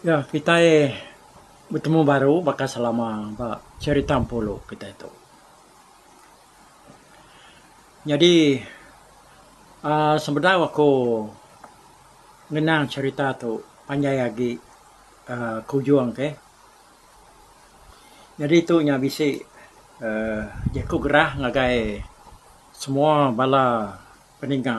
Ya, kitai betemu baru baka selama ba cherita Empulu kitai tu. Nyadi aaa sebedau aku ngenang cherita tu panjai agi aaa ke ujung ke. Nyadi tu nya bisi aaa jeku gerah ngagai semua bala peninga.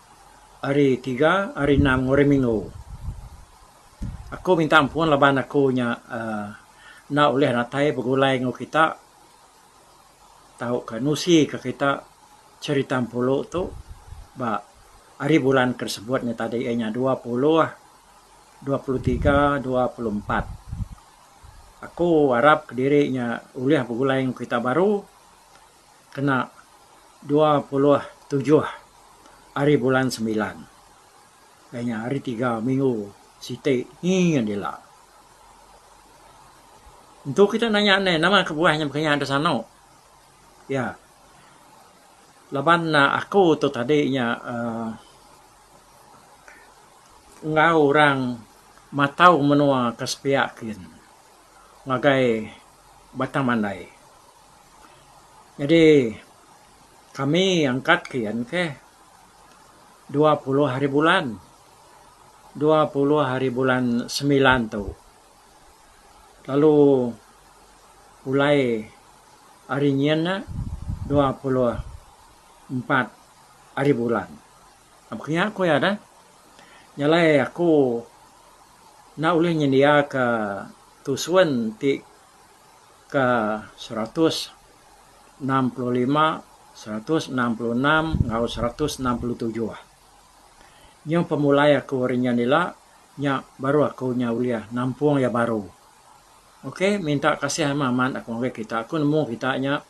Hari tiga, hari enam enggau hari minggu. Aku minta ampun laban aku nya uhh enda ulih natai begulai enggau kita tauka nusika kita cherita empulu tu ba hari bulan ke sebut nya tadi iya nya dua puluh, dua puluh tiga, dua puluh empat. Aku arap kediri nya ulih begulai enggau kita baru. kena dua puluh tujuh ari bulan semilan. Ai nya hari tiga minggu siti nyin dila. Entu kita nanya ne nama kebuah nya baka nya da sano. Iya. Laban aku tu tadi nya uhh enggau orang matau menua ke sepiak gin. ngagai batang mandai. Nyadi kami angkat ke iya ke dua puluh hari bulan dua puluh hari bulan semilan tu lalu pulai hari nyin ne dua puluh empat hari bulan. Pak nya ku iya deh. Nya alai aku enda ulih nyendiaka tusun ti ke seratus enam puluh lima, seratus enam puluh enam enggau seratus enam puluh tujuh. Nyuh pemulai aku ari nya dila nya baru aku nya ulih nampung iya baru. Ok minta kasih amat amat aku ngagai kita. Aku nemu kita nya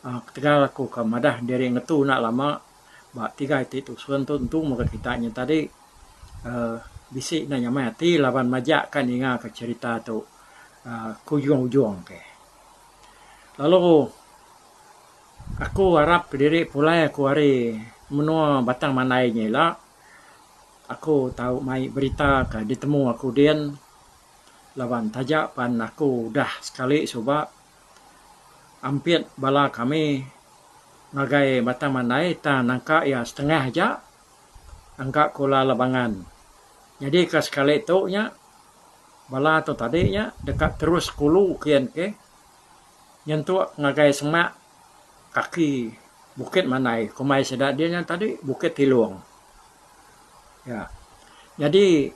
aaa ketegal aku ka madah diri ngetu enda lama ba tiga iti tusun tu entu mega kita nyadi tadi uhh bisi enda nyamai ati laban majak ka ninga ka cherita tu uhh ke ujung ujung ke lalu aku arap kediri pulai aku ari menua batang mandai nya ila aku tau mai berita ka ditemu aku din laban taja pan aku udah sekali suba. Ampit bala kami ngagai Batang Mandai tang nangka iya setengah aja engka Kula Labangan. Jadi ka sekali tu nya bala tu tadi nya deka terus kulu kian ke nyentuk ngagai semak kaki Bukit Mandai komai sida dinya tadi Bukit Tilong. Iya. Jadi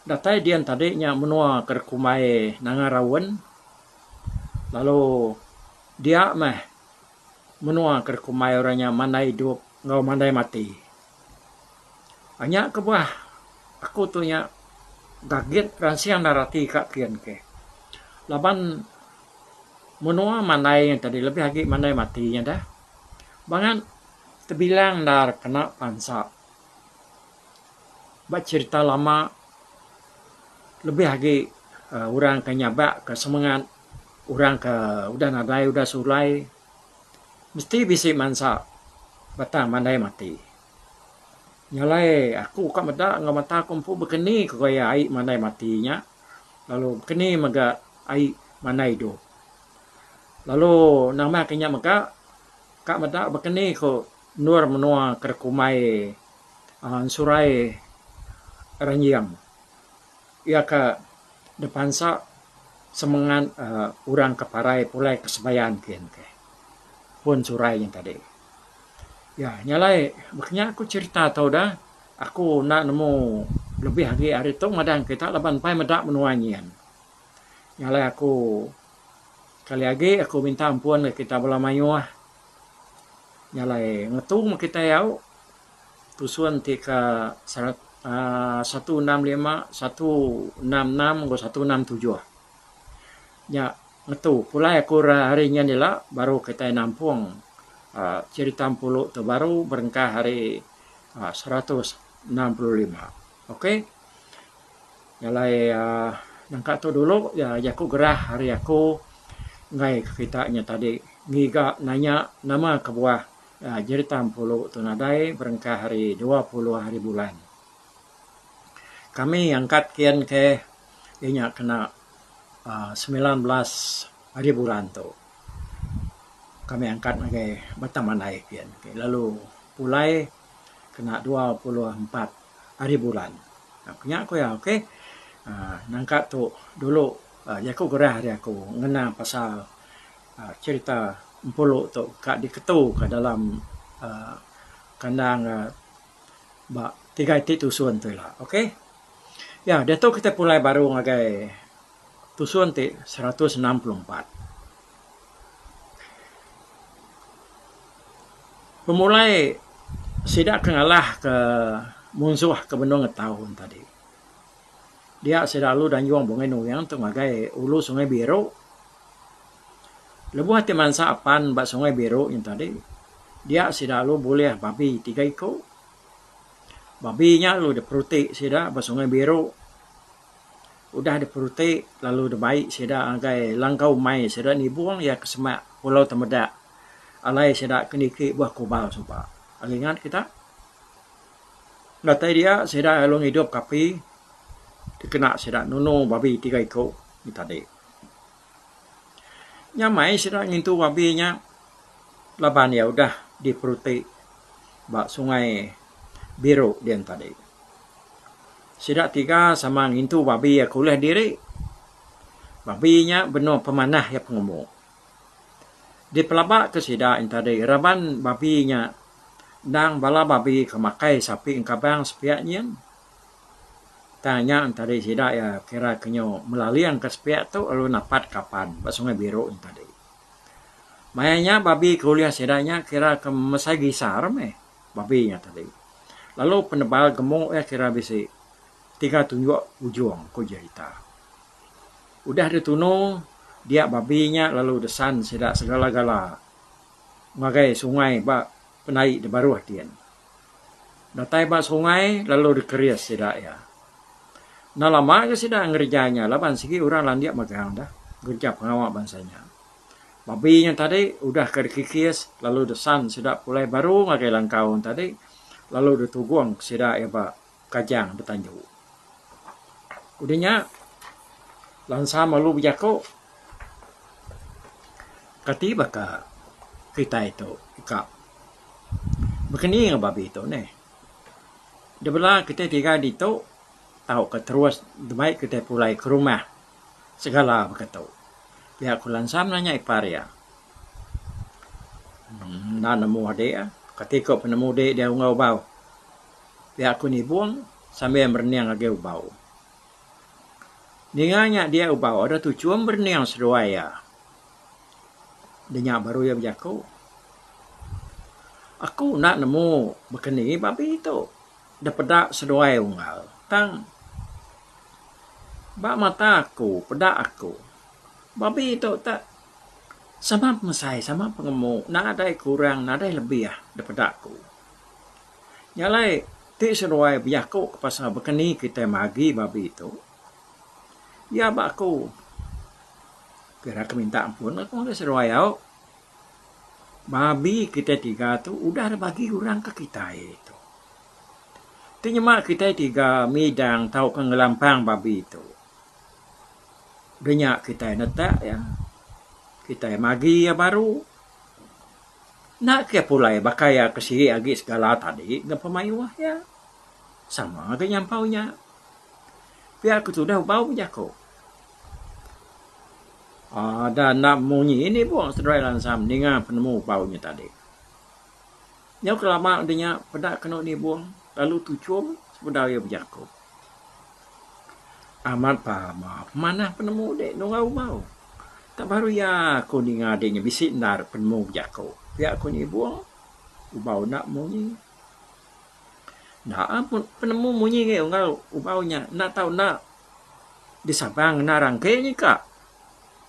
datai dian tadi nya menua ke dikumbai Nanga Raun Lalu dia meh menua ke dikumbai orang nya mandai idup enggau mandai mati. Nya kebuah aku tu nya gagit ransing ndar ati ka kian ke. Laban menua mandai nya tadi lebih agi mandai mati nya deh. Bangat tebilang ndar kena pansa. Ba cherita lama, lebih agi orang ke nyabak ke semengat orang ke udah nadai udah sulai mesti bisi mansa batang mandai mati. Nya alai aku ka meda enggau mata aku empu bekeni ko gaya ai mandai mati nya lalu bekeni mega ai mandai idup. Lalu nambah ke nya mega ka meda bekeni ko Endur menua keda kumai ensurai ranjing iya ka dipansa semengat urang ka parai pulai ka sebayan kin ke pun ensurai nya tadi. Iya nya alai baka nya ku cerita tau da aku enda nemu lebih agi ari tu ngadan kita laban mpai meda menua nyin. Nya alai aku sekali agi aku minta ampun ngan kita bala mayuh. Nya alai ngetu meh kitai au tusun ti ka aaa satu enam lima, satu enam enam enggau satu enam tujuh. Nya ngetu pulai aku ra ari nyin ila baru kitai nampung aaa cherita empulu tu baru berengkah ari seratus enam puluh lima. Okey. Nya alai uhh nangka tu dulu ya jaku gerah ari aku enggai ke kita nya tadi ngiga nanya nama kebuah jerita Empulu tu nadai berengkah ari dua puluh hari bulan. Kami angkat kin ke iya nya kena uhh semilan belas hari bulan tu. Kami angkat ngagai batang mandai kin lalu pulai. kena dua puluh empat ari bulan ku nya ku iya okay aaa nangka tu dulu jaku gerah ari aku ngena pasal aaa cherita empulu tu ka diketu ka dalam aaa kandang aaa ba tiga iti tusun tu ila okay iya diatu kita pulai baru ngagai tusun ti seratus enam puluh empat. Pemulai sida ke ngalahka munsuh ke benung ngetau ne tadi dia sida lalu dayung Bungei Nuyang tu ngagai Ulu Sungai Biru lebuh ti mansa apan ba Sungai Biru nya tadi dia sida lalu bulih babi tiga iku. Babi nya lalu diperuti sida ba Sungai Biru. Udah diperuti lalu dibai sida ngagai langkau mai sida nibung iya ke semak Pulau Temedak alai sida ke niki buah kubal suba. Ari ngat kita datai dia sida lalu ngidup ke api dikena sida nunu babi tiga iku nya tadi. Nya mai sida ngintu babi nya laban iya udah diperuti ba Sungai Biru dian tadi. Sida tiga sama ngintu babi iya ke ulih diri. Babi nya benung pemanah iya pengumu. Dipelabaka sida entadi raban babi nya endang bala babi ke makai sapi engkabang sepiak nyin. Tang nya entadi sida iya kira ke nyu melalingka sepiak tu lalu napat ka apan ba Sungai Biru entadi. Maya nya babi ke ulih sida nya kira ke mesai gisar meh. Babi nya tadi. Lalu penebal gemuk iya kira bisi tiga tunjuk ujung, ku Jahita. Udah ditunu dia babi nya lalu desan sida segala-gala ngagai sungai ba pendai di baruh din. Datai ba sungai lalu dikeris sida iya. Enda lama ga sida ngereja nya laban sigi orang landik magang dah ngereja pengawa bansa nya. Babi nya tadi udah ka dikikis lalu desan sida pulai baru ngagai langkau nya tadi lalu ditugung sida iya ba Kajang betanju. Udah nya Lansam lalu bejaku kati baka kitai tu ka bekeni enggau babi tu neh. Debela kitai tiga ditu tauka terus deba kitai pulai ke rumah. Segala baka tu. Pia ku Lansam nanya ipar iya. Enda nemu adik. Kati ko penemu dik dia ungau bau. Pia ku Nibong sambil merening agi ubau. Ninga nya dia ubau ada tu chum berening seduai iya. Denya baru iya bejaku. Aku enda nemu baka ni babi tu. Deh peda seduai unggal tang ba mata aku peda aku babi tu tak sama pengesai sama pengemu nadai kurang nadai lebih deh peda aku. Nya alai ti seduai bejaku ke pasal bekeni kitai magi babi tu iya ba aku pira ke minta ampun aku ngagai seduai au. Babi kitai tiga tu udah deh bagi orang ke kitai tu. Tu nyema kitai tiga midang tauka ngelampang babi tu. Udah nya kitai netak iya, kitai magi iya baru. Enda ke iya pulai baka iya ke siri agi segala tadi ngagai pemayuh iya. Sama ga nyampau nya. Pia ke tudah bau bejaku. Ada enda munyi ini buk seduai lansam ninga penemu bau nya tadi. Nyau kelama udah nya peda kenu nibung lalu tuchum sebedau iya bejaku. Amat pama pemanah penemu dik nunga umau. Tak baru iya aku ninga dik nya bisi endar penemu bejaku. Pia aku nibung ubau enda munyi. Enda ah penemu munyi ngai unggal ubau nya enda tau enda. disabang ngena rangke nyi ka.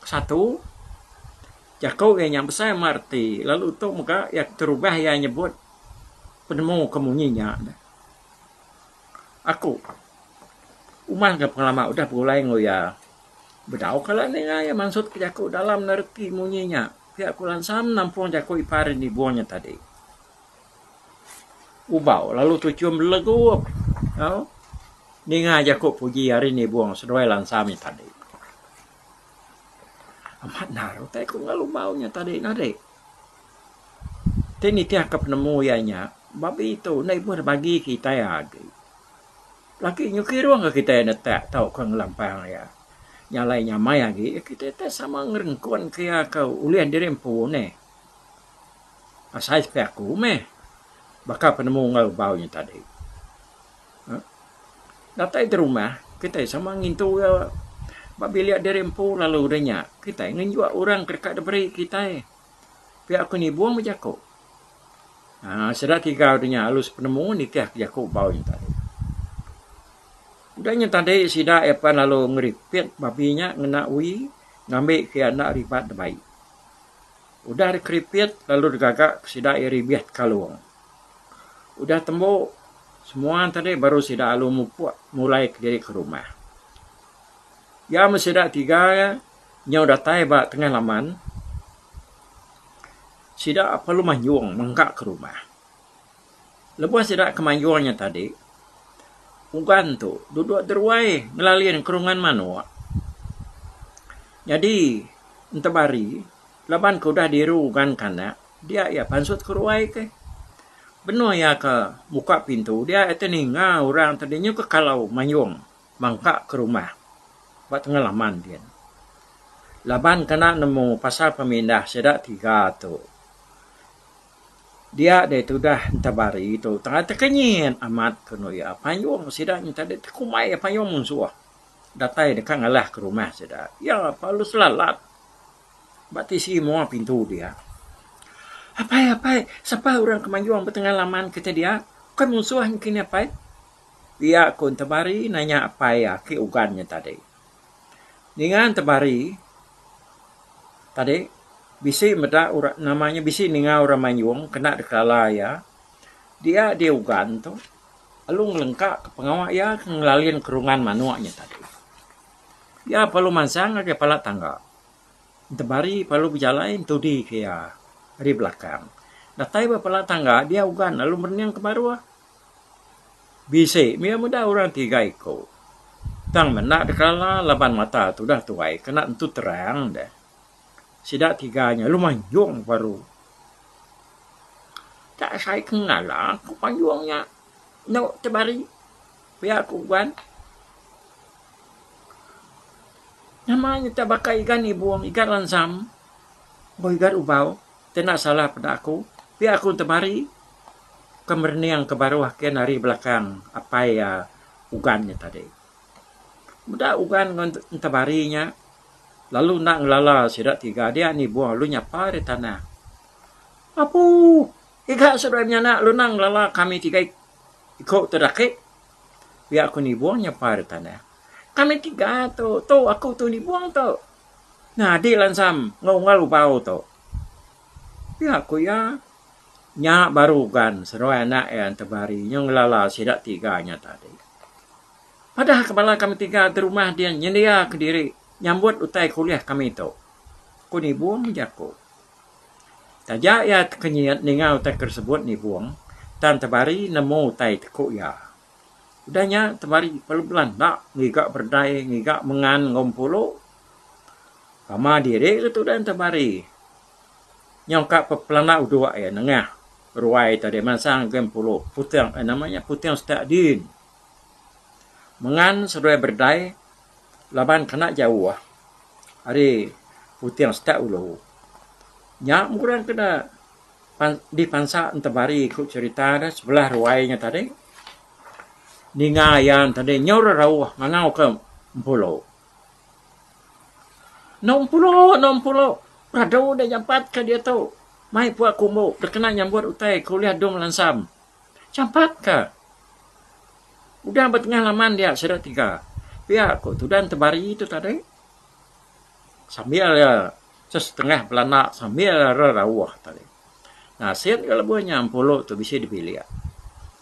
Satu, jaku iya nya besai meh reti lalu tu mega iya terubah iya nyebut penemu ke munyi nya. Aku uman enggau pengelama udah begulai enggau iya bedau kala ninga iya mansut ke jaku dalam ne reti munyi nya. Pia ku lansa nampung jaku ipar nibung nya tadi. Ubau lalu tuchum legup tau ninga jaku puji ari indi bung seduai lansa mih tadi. Amat nal utai ku ngalu ubau nya tadi nah deh. Ti nitih ka penemu iya nya babi tu enda ibuh deh bagi kitai agi. Laki nyuki irung ka kitai enda tak tau ka ngelampang iya. Nya alai nya amai agi kitai tak sama ngerengkun ka iya ka ulih diri empu neh. Asai sepiak aku meh baka penemu enggau bau nya tadi uhh datai ke rumah kitai sama ngintu iya ba bilik diri empu lalu udah nya kitai ngenjok orang ke deka diberi kitai pia ku nibung meh jaku uhh sida tiga udah nya lalu sepenemu nitih ke jaku bau nya tadi. Udah nya tadi sida iya pan lalu ngeripit babi nya ngena uii ngambi ke iya enda ribat dibai. Udah dikeripit lalu digaga ke sida iya ribih ti kalung. Udah tembu semua tadi baru sida alu mupuk mulai kediri ke rumah. Iya meh sida tiga iya nyau datai ba tengah laman sida perlu mayung mengka ke rumah. Lebuh sida ke mayuh nya tadi, Pugan tu duduk deruai ngelalin kerungan manuk. Nyadi ntap hari, laban ke udah diru ugan kanak, dia iya pansut ke ruai ke. Benung iya ke muka pintu, dia iya ti ninga orang tadi nyu ke kalau mayung mangka ke rumah ba tengah laman din. Laban ke enda nemu pasal pemindah sida tiga tu. Dia deh tudah entabari tu tengah tekenyit amat kenu iya. Panyung sida nyentah deh tekumbai iya panyung munsuh datai deka ngalah ke rumah sida. Iya lalu selalat ba tisi mua pintu dia. Apai apai sapa orang ke mayuh betengah laman kitai dia? Bukai munsuh nya kinih apai? Iya ku entabari nanya apai iya ke ugan nya tadi. Ninga temari tadi bisi meda orang nama nya bisi ninga orang mayuh kena dikala iya dia di ugan tu lalu ngelengka ka pengawa iya ke ngelalin kerungan manok nya tadi. Iya perlu mansang ngagai pala tangga. Temari perlu bejalai entudi ke iya ari belakang. Datai ba pala tangga dia ugan lalu merening ke baruh. Bisi mih iya meda orang tiga iku. Tang menda dek kala laban mata tu udah tuai kena tentu terang deh. Sida tiga nya lu manjung baru. Ka sai ku ngala ku manjung nya enu tebari pia ku uban. Nama nya ta baka igan ibung igan lansam enggau igan ubau. Tena salah peda aku pia ku tebari. Ke merening ke baruh ake ne ari belakang apai iya Ugan nya tadi. Meda Ugan enggau Entabari nya lalu enda ngelala sida tiga dia anu ibuh lalu nyapa ri tanah. Apu! Iga seduai menyanak lalu enda ngelala kami tiga iko tu dake. Pia ku Nibong nyapa ri tanah. Kami tiga tu, tu aku tu Nibong tu. Nyadi langsam enggau unggal ubau tu. Pia ku iya. Nya baru gan seduai anak iya entebari nyau ngelala sida tiga nya tadi. Padah ke bala kami tiga ti rumah dia nyendia kediri nyambut utai kuliah kami tu, ku Nibong jaku. Taja iya tekenyit ninga utai ke disebut Nibong, tang Entebari nemu utai ti ku iya. Udah nya Entebari pelan-pelan enda ngiga berdai ngiga mengan enggau empulu. Pama diri ke tudah Entebari Nyau ka pepelana udok iya nengah ruai ita deh mansang ke Empulu Puteng eh nama iya Puteng Setak Din. Mengan seduai berdai laban kena jauh ari Puteng Setak Ulu. Nya murang ke da dipansa Entebari ku cherita da sebelah ruai nya tadi ninga iya tadi nyau rarauh ngangau ke Empulu. Enam pulu, enam pulu peradu da jampat ka diatu mai pua ku umbu da kena nyambut utai ku ulih adung lansam. Jampat ka. Udah ba tengah laman dia sida tiga. Pia ku Tudan Tebari tu tadi sambil iya sesetengah belana sambil iya rerauh tadi. Nasit ga lebuh nya empulu tu bisi dibilik.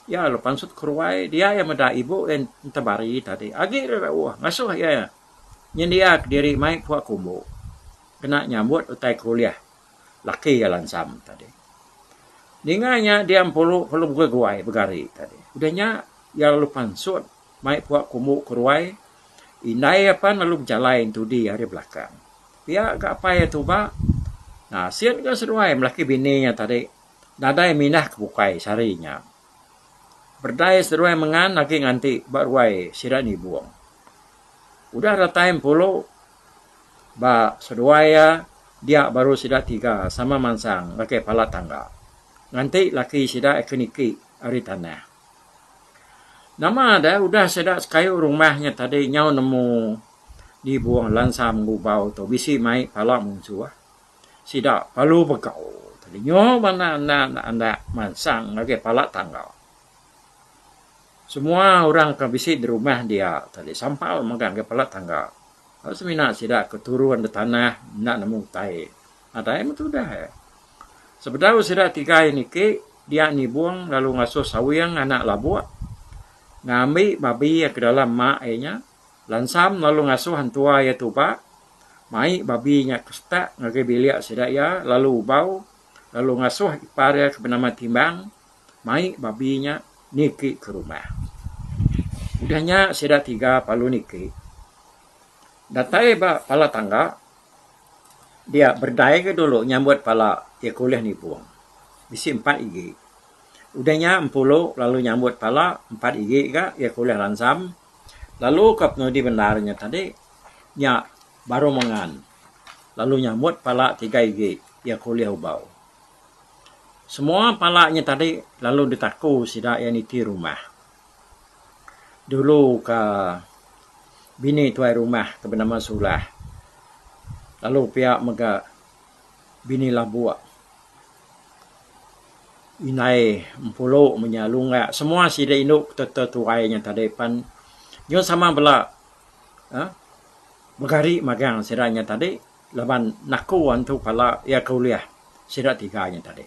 Iya lalu pansut ke ruai dia iya meda ibu iya Tebari tadi agi rerauh ngasuh iya. Nyendiak diri mai puak kumbu kena nyambut utai kuliah laki iya lansam tadi. Ninga nya dia empuru ke lungkuih guai begari tadi. Udah nya iya lalu pansut mai puak kumbu ke ruai indai iya pan lalu bejalai entudi ari belakang. Pia ga apai iya tuba asin ga seduai laki bini iya tadi nadai minah ke bukai sehari nya. Berdai seduai mengan agi nganti ba ruai sida nyibung. Udah datai empulu ba seduai iya dia baru sida tiga sama mansang ngagai palat tangga nganti laki sida ke niki ari tanah. Nama deh udah sida sekayu rumah nya tadi nyau nemu nyibung lansa menggubau tu bisi mai pala munsuh. Sida lalu begau telinga bana endang andak mansang ngagai pala tangga. Semua orang ke bisi di rumah dia tu deh sampal mega ngagai pala tangga. Lalu semina sida ke turun nda tanah enda nemu utai. Nadai meh tudah eh. Sebedau sida tigai niki dia nibung lalu ngasuh sawing anak labuk ngambi babi ke dalam mak iya nya. Lansam lalu ngasuh entua iya tuba mai babi nya ke setak ngagai bilik sida iya lalu ubau lalu ngasuh ipar iya ke benama Timbang mai babi nya niki ke rumah. Udah nya sida tiga lalu niki. Datai ba pala tangga dia berdai ga dulu nyambut pala iya ke ulih nibung. Bisi empat igi. Udah nya Empulu lalu nyambut pala empat igi ga iya ke ulih lansam. Lalu ka penudi bendar nya tadi nya baru mengan lalu nyambut pala tiga igi iya ke ulih ubau. Semua pala nya tadi lalu ditaku sida iya niti rumah. Dulu ka bini tuai rumah ke benama Sulah lalu pia mega bini labuk. Indai Empulu menya Lunggak semua sida indu betul-betul tuai nya tadi pan nyau sama bala aaa begari magang sida nya tadi laban naku antu pala iya ke ulih sida tiga nya tadi.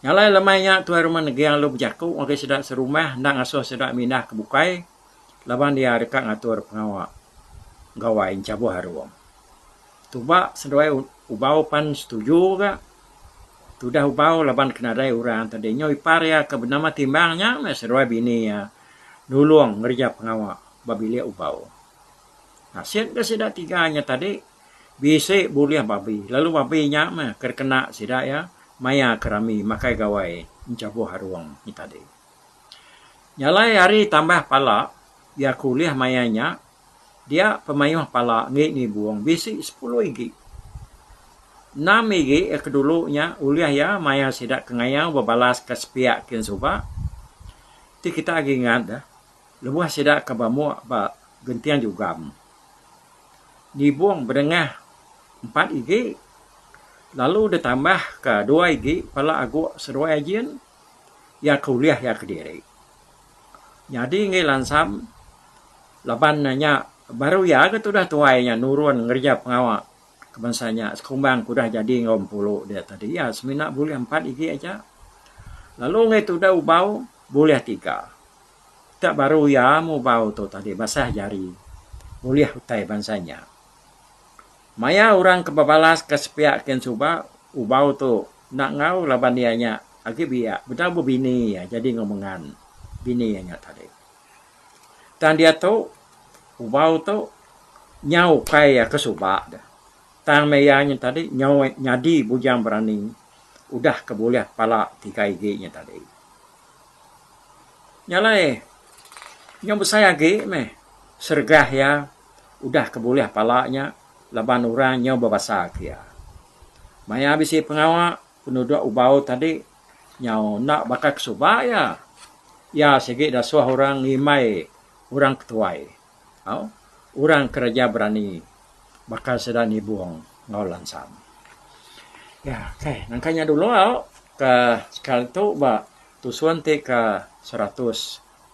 Nya alai lema iya Tuai Rumah Neging lalu bejaku ngagai sida serumah enda ngasuh sida mindah ke bukai. laban iya deka ngatur pengawa Gawai Enchabuh Arung. Tuba seduai Ubau pan setuju ga tudah Ubau laban ke nadai orang tadi nyau ipar iya ke benama Timbang nya meh seduai bini iya nulung ngereja pengawa ba bilik Ubau. Nasit ga sida tiga nya tadi bisi bulih babi lalu babi nya meh ke dikena sida iya maya ke rami makai Gawai Enchabuh Arung nya tadi. Jalai hari tambah pala iya ke ulih maya nya dia pemayuh pala enggi nibung bisi sepuluh igi. Enam igi iya ke dulu nya ulih iya maya sida ke ngayau bebalas ka sepiak kin suba ti kita agi ngat deh lebuh sida ke ba muk ba genting jugam nibung bedengah empat igi lalu ditambah ka dua igi pala agu seduai ajin. iya ke ulih iya kediri. Nyadi enggai lansam laban ne nya baru iya ga tudah tuai nya nurun ngereja pengawa ke bansa nya sekumbang ke udah jadi enggau empuru dia tadi iya semina bulih empat igi aja lalu enggai tudah ubau bulih tiga. Dak baru iya meh ubau tu tadi basah jari ulih utai bansa nya. Maya orang ke bebalas ke sepiak kin suba ubau tu enda enggau laban iya nya agi biak bedau ba bini iya jadi enggau mengan bini iya nya tadi. Tang diatu ubau tu nyau ukai iya ke suba deh. Tang meh iya nya tadi nyau nyadi bujang berani udah ke bulih pala tiga igi nya tadi. Nya alai nyau besai agi meh sergah iya. udah ke bulih pala nya laban orang nyau bebasaka iya. Maya bisi pengawa, penuduk Ubau tadi nyau enda baka ke suba iya. Iya sigi dasuh orang ngimbai orang ke tuai enggau orang kereja berani baka sida Nibong enggau Lansam. Ya, kai. Nangka nya dulu au ke sekali tu ba tusun ti ke seratus.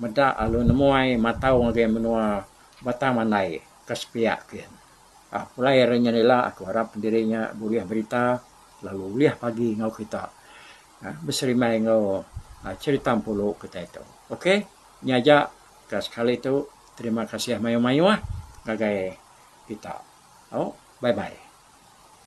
meda lalu nemuai matau ngagai menua Batang Mandai ke sepiak kian. Pulai ari nya ila aku arap diri nya bulih berita lalu ulih pagi enggau kita beserimbai enggau cherita Empulu kitai tu. Ok nya aja ke sekali tu terima kasih mayuh-mayuh ngagai kita. Au bye-bye.